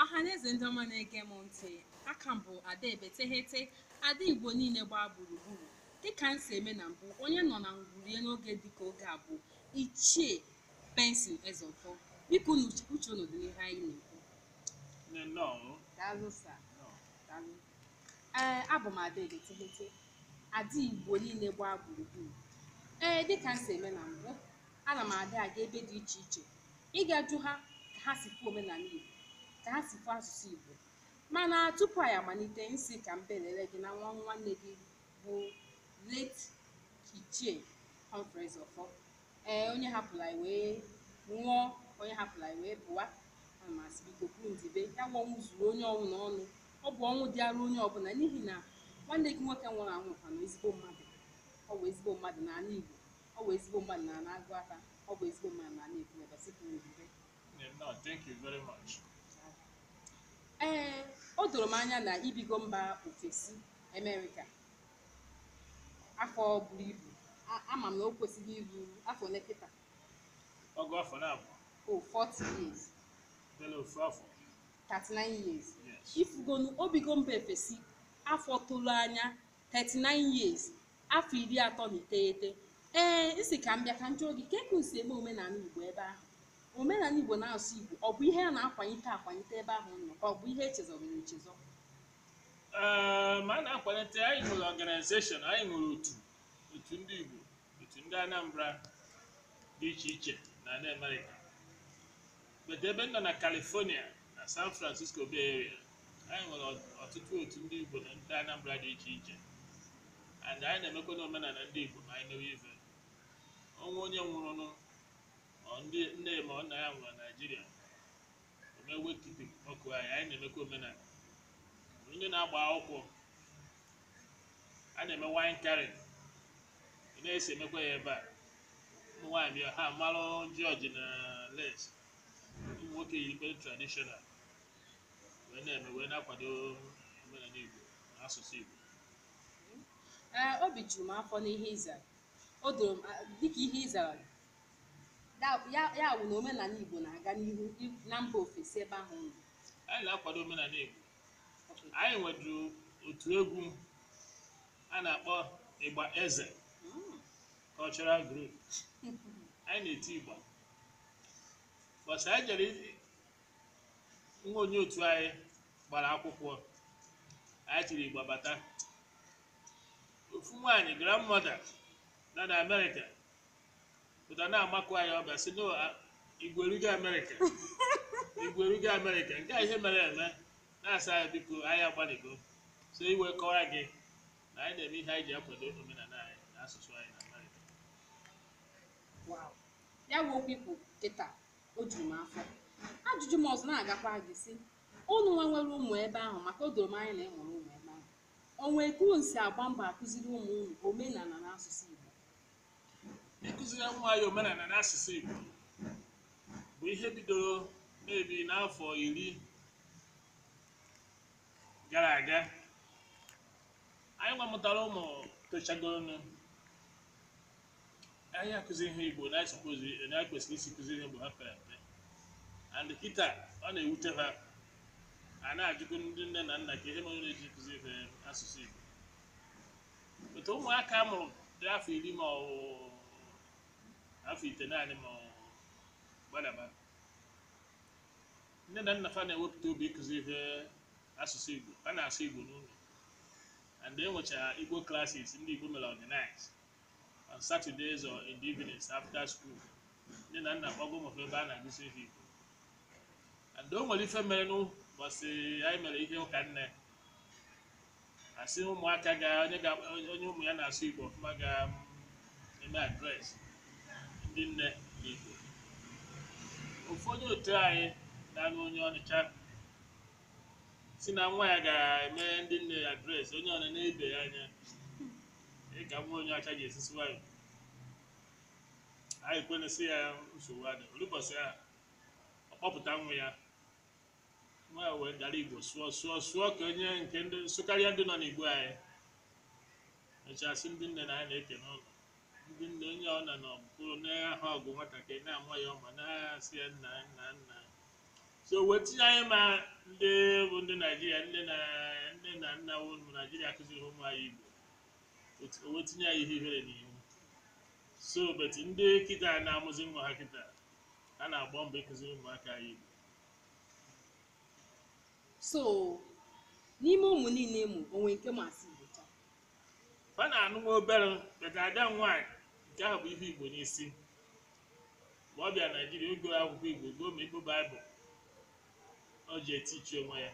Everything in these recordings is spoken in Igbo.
ọhaneze ndị ọma na-ege m ntị aka m bụ ada ebeteghete ada igbo niile gbaa gburugburu dịka m si eme na mbụ onye nọ na ngwurie n'oge dịka oge a bụ ichie benson ezeọfọ biko unu uche uche unu dị n'ihe anyị na-ekwu Nne nnọọ. daalụ sa daalụ ee abụ m ada ebeteghete ada igbo niile gbaa gburugburu ee dịka m si eme na mbụ ana m adị aga ebe dị iche iche ịga jụ ha ka ha si kwuo omenala Igbo ka ha si kwuo asụsụ Igbo mana tupu anyị amalite m sị ka m belere gị na nwa nwanne gị bụ late Ichie Humphrey Ọfọ ee onye hapụrụ anyị wee nwụọ onye hapụrụ anyị wee pụwa ana m asị biko kwuru ndibe ya bụ ọnwụ zuru onye ọbụna ọnụ ọ bụ ọnwụ dịara onye ọbụla n'ihi na nwanne gị nwoke nwụrụ anwụ kwanụ ezigbo mmadụ ọ bụ ezigbo mmadụ n'ala Igbo ọ bụ ezigbo mmadụ n'ana Agụata ọ bụ ezigbo mmadụ n'ana Ekwulọbịa site n'ebube Yeah, no, thank you very much. ee o doro m anya na ibigo mba ofesi amerịka afọ buru ibu A- ama m na o kwesịrị iru afọ ole kịta Ọgụ afọ naabọ 40 years belụ ofu afọ. 39 years Yes. ifugonu obigo mba ofesi afọ tolu anya 39 years afọ iri atọ na iteghete ee m sị ka m bịa ka m jụọ gị kee ka unu si eme omenala igbo ebe ahụ omenala igbo na asụsụ igbo ọ bụ ihe a na-akwanite akwanite ebe ahụ nọ ka ọ bụ ihe e chezọgoro echezọ ee mba a na-akwalite anyị nwere ọganizeshọn anyị nwere otu otu ndị igbo otu ndị anambra dị iche iche na ala amerịka but ebe m nọ na California na San Francisco Bay Area anyị nwere ọt- ọtụtụ otu ndị Igbo na ndị Anambra dị iche iche and anyị na-emekwa n'omenala ndị Igbo ma anyị mewe ife o nwee onye nwụrụnụ or ndị nne ma ọ nna ya nwụrụ na Naịjirịa e mee wake keeping okay anyị anyị na-emekwa omenala ndị na-agba akwụkwọ a na-eme wine carrying a na-esi emekwa ya ebe a ụmụ nwaanyị bịa ha malụ jọji na les ụmụ nwoke yi ikpe tradishọnal wee na-eme wee na-akwado omenala Igbo na asụsụ Igbo ee obi juru m afọ n'ihe ị zara o doro m a- dịka ihe ị zara da- ya ya wụ na omenala igbo na-aga n'ihu i- na mba ofesi ebe ahụ nọ anyị na-akwado omenala Igbo anyị nweduru otu egwu a na-akpọ igba eze Mm. cultural group anyị na-eti igba bọsị anyị jere i- nwa onye otu anyị gbara akwụkwọ anyị tiri igba bata ofu nwaanyị grandmother nọ na amerịka pụta na-amakụ anyị ọ bịa sị na a- igwe erugo amerịka igwe erugo amerịka nke a ihe mere eme na-asị anyị biko anyị agbanịgo so e wee kọwara gị na anyị na-eme ihe anyị ji akwado omenala anyị na asụsụ anyị na Amerịka Wow. ya bụ okwu i kwu kịta o juru m afọ ajụjụ m ọzọ na-agakwa gị sị unu nwa nwere ụmụ ebe ahụ maka o doro m anya na ị mụrụ ụmụ ebe ahụ o nwee ka unu si agba mbọ akụziri ụmụ unu omenala na asụsụ Igbo ịkụziri nwa anyị omenala na asụsụ Igbo bụ ihe bidoro maybe n'afọ iri gara aga anyị nwa mụtara ụmụ tochagoronụ anyị akụzi ha igbo na suppose na anyị kwesịrị isi kụzi ha mgbe ha pere mpe and kịta ọ na-ewute ha ha na-ajụkwu ndị nne na nna ka ihe mere na-eji kụzi ha asụsụ igbo but ụmụaka a mụrụ dị afọ iri ma ọ bụ afọ itenaanị ma ọ bụ gbadaba nne na nna fa na-ewepụta obi ịkụzi fa asụsụ igbo ha na-asụ igbo n'ụlọ and e nwechara igbo classes ndị igbo mere organize on saturdays or in the evenings after school nne na nna kpọga ụmụ fa ebe a na-akụzi fa igbo and o nwere ife mere n'ụbọchị anyị mere ihe ụka nne a sị ụmụaka ga onye ga onye ụmụ ya na-asụ igbo ọfụma ga um, eme address ndị nne n'igbo ofu onye otu anyị na-anụ onye ọcha sị na nwa ya ga-eme ndị nne ya address onye ọbụna enebe ya anya ka nwa onye ọcha ga-esi sụwa ya anyị kwenye sị ya nsogbu adị o lu ụbọsị ahụ ọ kpọpụta nwa ya nwa ya wee dara igbo sụọ sụọ sụọ ka onye nke ndị sụkarịa ndị nọ n'igbo anyị mechaa sị ndị nne na anyị na-eke n'ụlọ ndị nne onye ọbụna nọ bụrụ na-ahụ ọgụ nwatakịrị na-ama ya ọma na-asị ya nna nna nna so wee tinye anyị ma ndị bụ ndị naijiria nne na nne na nna wụ ụmụ naijiria akụziri ụmụ anyị igbo Otu- o wee tinye anyị ihe ihere n'ihu so but ndị kịta na-amụzi nwa ha kịta ha na-agba mbọ ịkụziri ụmụaka anyị igbo so n'ime ụmụ niile mụ o nwere nke ma asụ igbo cha ọ na-anụ nwa obere but ada nwaanyị nke ahụ bu ihe igbo n'isi mgbe ọ bịa naijiria o goro akwụkwọ igbo goo ma igbo baịbụl o ji etichi onwe ya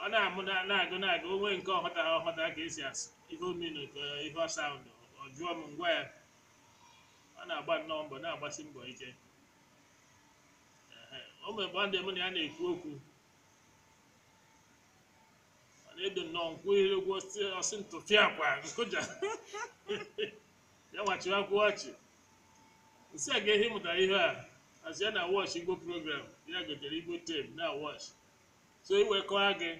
ọ na-amụ na- na-agụ na-agụ o nwee nke ọ hụta ọ hụta ka esi asụ ihe o menụ ka ihe ọ sound ọ jụọ m m gwa ya ọ na-agba nnọọ mbọ na-agbasi mbọ ike Ehe, o nwere mgbe mụ na ya na-ekwu okwu ọ na-edo nnọọ nkwụ ihere okwu ọ sị ọ sị m tụfịakwa m kụja ya nwa chịwakwa ọchị m sị ya kee ebe ị mụtara ihe a ọ sị ya na-watch igbo program ya gotere igbo tape na-watch so iwe kọwa gị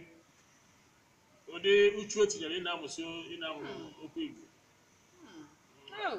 ụdị uchu o tinyere ị na-amụsị ị na-amụ okwu igbo Oh,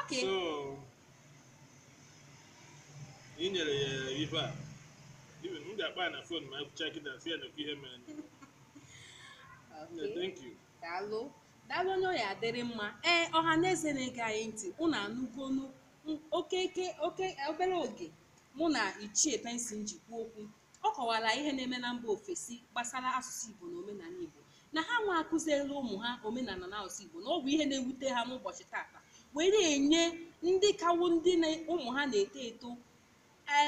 Okay. so ị nyere ya ife a even m ga-akpọ ya na phone ma ekwuchaa kịta sị ya nee ihe mere Okay. thank you daalụ daalụ onye ọ ya-adịrị mma ee ọha na eze na-ege anyị ntị unu anụgonu m- okeke oke obere oge mụ na ichie pensin ji kwuo okwu Ọ kọwara ihe na-eme na mba ofesi gbasara asụsụ Igbo na omenanị Igbo na ha nwa akụziela ụmụ ha omenanị na asụsụ Igbo na ọ bụ ihe na-ewute ha n'ụbọchị tata were enye ndị ka wụ ndị ụmụ ha na-eto eto e,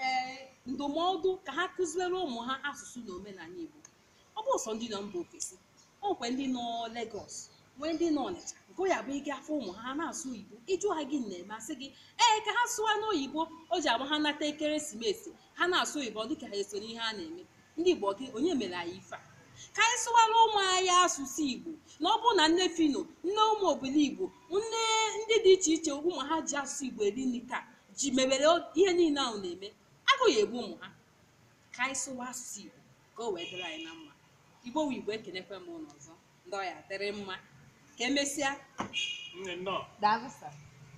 e, ndụmọdụ ka ha kụziere ụmụ ha asụsụ na omenanị Igbo ọ bụ sọ ndị nọ mba ofesi o nwekwa ndị nọ Lagos nwee ndị nọ Ọnịcha nke ya bụ ị ga-afụ ụmụ ha ha na-asụ oyibo ị jụọ ha gịnị na-eme asị gị ee ka ha sụwa n'oyibo o ji abụ ha nata ekeresimesi ha na-asụ oyibo dịka ha eso n'ihe a na-eme ndị Igbo kee onye mere anyị ife a ka anyị sụwara ụmụ anyị asụsụ Igbo na ọ bụrụ na nne Phyno nne Ụmụ Obiligbo nne ndị dị iche iche ụmụ ha ji asụsụ Igbo eri nri taa ji mebere ihe niile ha na-eme agụụ egbu ụmụ ha ka anyị sụwa asụsụ Igbo ka o wee dịrị anyị na mma igbo wu igbo ekenekwa m unu ọzọ ndị ọ ya-adịrị mma ka emesịa Nne nnọọ. daalụ sir.